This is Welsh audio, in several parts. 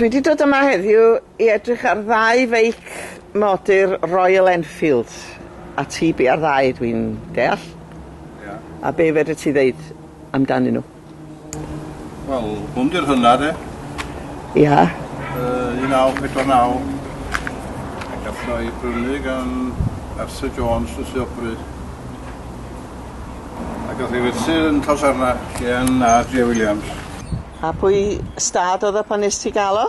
Dwi wedi dod yma heddiw i edrych ar ddau feic modur Royal Enfield a ti bi ar ddau dwi'n deall? Ia. A be' fedri ti ddeud amdanyn nhw? Wel, hwn di'r hynna de. Ia. Uh, 1949. Ac allan o'i brynu gan Arthur Jones yn Sir Bryd. Ac gath ei werthu yn Llosarna gan A.J. Williams. A pwy stad oedd o pan nes ti gael o?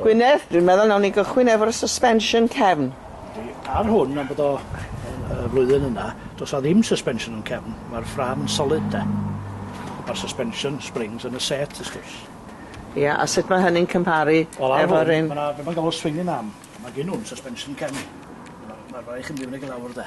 Gwynedd, dwi'n meddwl nawn ni gychwyn efo'r suspension cefn. Yndi, ar hwn am bod o y flwyddyn yna, does na ddim suspension yn cefn, mae'r ffrâm yn solid de. Mae'r suspension springs yn y set wrth gwrs. Ia, a sut mae hynny'n cymparu efo'r un... Wel ar hwn, ma' 'na be' ma'n galw swinging arm, ma' gin hwn suspension cefn. Ma'r ma' raid i chi mynd i fyny ag i lawr de.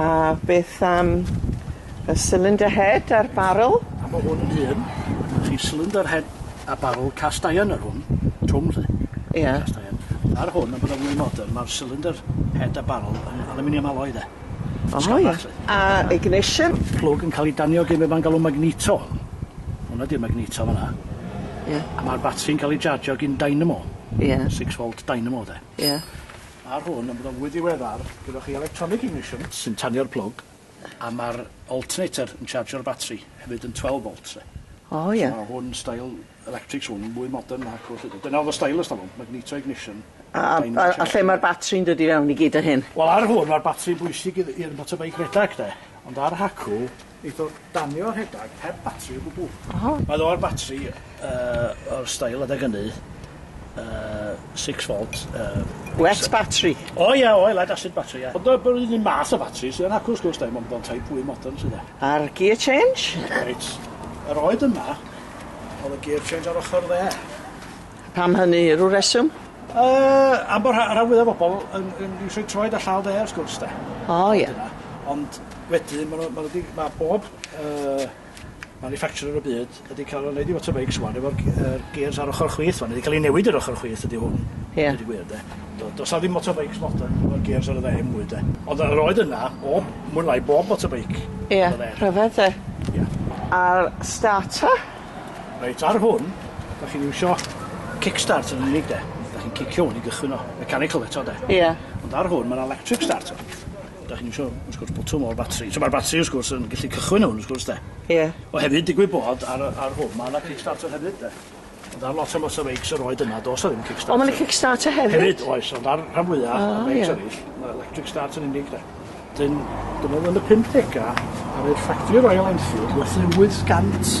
A beth am y cylinder head a'r barrel? A ma' hwn un, ma' chi cylinder head a barrel cast iron ar hwn, trwm 'lly. Ia. Cast iron. Ar hwn yn bydde mwy modern ma'r cylinder head a barrel yn aluminium alloy 'de. O ia. A ignition? Plwg yn ca'l 'i danio gin be' ma'n galw magneto. Hwnna 'di'r magneto fan 'na. Ia. A ma'r batri yn ca'l 'i jarjio gin dynamo. Ia. Six volt dynamo 'de. Ia. Ar hwn yn bodoli fwy diweddar, gyda chi electronic ignition sy'n tanio'r plwg a ma'r alternator yn chargio'r batri hefyd yn twelve volt 'lly. O ie. So ma' hwn style electrics hwn mwy modern nac oll ydi. Dyna o'dd y stylish o hwn, magneto ignition. A a a a lle ma'r batri yn dod i fewn i gyd o hyn? Wel ar hwn ma'r batri yn bwysig i'r i'r motorbike redag de, ond ar hacw Neith o danio rhedag heb batri o gwbwl. Oho. Mae o'r batri yy o'r steil adeg ynny yy six volt yy... Wet batri? O ia oedd lead acid batri ia. Ond yy yr un un math o fatri sy yn acw wrth gwrs de mond mewn type fwy modern 'lly de. A'r gear change? Reit yr oed yma o'dd y gear change ar ochor dde. Pam hynny? Rw reswm? Yy am bo' rha- ran fwya o bobol yn yn isio 'u troed a llaw de wrth gwrs de. O ie. Ond wedyn ma' nw ma' nw 'di ma' bob yy manufacturer yn y byd wedi ca'l o neud i fotorbikes ŵan efo'r g- yy gêrs ar ochor chwith ŵan, wedi ca'l 'i newid yr ochor chwith ydi hwn. Ie. Deud y gwir de. Do- do's 'a ddim motorbikes modern efo'r gêrs ar y dde 'im mwy de. Ond yy yr oedd yna o mwy neu lai bob motorbike. Ie. Rhyfedd de? Ia. A'r starter? Reit, ar hwn, dach chi'n iwsio kickstart yn unig de. Dach chi'n cicio hwn i gychwyn o. Mechanical eto de. Ia. Ond ar hwn ma'n electric starter. Dach chi'n iwsio wrth gwrs botwm o'r batri. So ma'r batri wrth gwrs yn gellu cychwyn hwn wrth gwrs de. Ia. O hefyd digwydd bod ar y ar hwn ma' 'na kick starter hefyd de. Ond ar lot o motorbikes yr oed yna do's 'na ddim kick starter. O ma' 'na kick starter hefyd? Hefyd oes ond ar rhan fwya... O ie. ...o bikes eryll ma' electric start yn unig de. Wedyn, dyma fo yn y pumdega, ar ei ffactri o Royal Enfield, gwerthu 800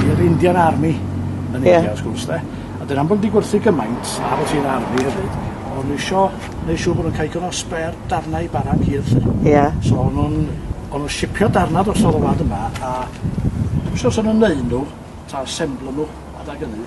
i'r Indian Army yn India, yeah. wrth gwrs, de. A dyn am bod wedi gwerthu gymaint, a bod hi'n army hefyd, o'n nhw isio neu siŵr bod nhw'n cael cyn o sper darnau i barag hir, lle. Ie. Yeah. So o'n nhw'n o'n nhw'n sipio darnau dros o'r wlad yma, a dwi'n siŵr os o'n nhw'n neud nhw, ta asemblo nhw, adag ynny,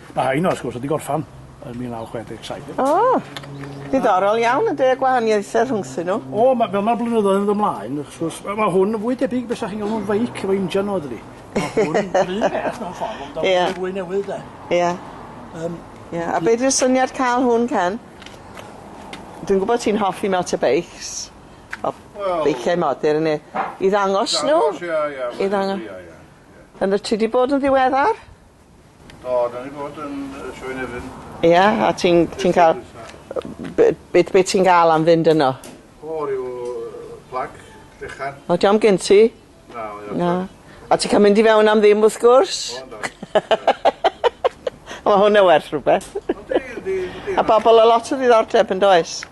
Mae rhain wrth gwrs wedi gorffan yn 1967. O! Diddorol iawn ynde y gwahaniaethe rhwngthyn nhw. O ma' fel ma'r blynyddoedd yn dod mlaen wrth gwrs ma' ma' hwn yn fwy debyg be' sa chi'n galw'n feic efo injan o dydi? Ma' hwn yr un peth mewn ffordd ond Ie. mwy fwy newydd 'de? Ie. Yym. Ie a be' 'di'r syniad ca'l hwn ten? Dwi'n gwbo ti'n hoffi motobeics. O. Wel. Beiciau modur ne' i ddangos nhw? Dangos ia ia. I ddang- Ia ia ia. Yn y ti 'di bod yn ddiweddar? O, da ni bod yn y Sioe Nefyn. Ie, yeah, a ti'n ti cael... Be, be, be ti'n gael am fynd yno? O, rhyw plag, fechan. O, diolch am gen ti? Na, o, Na. A ti'n cael mynd i fewn am ddim, wrth gwrs? O, da. Mae hwnna werth rhywbeth. A bobl o lot o ddiddordeb yn does?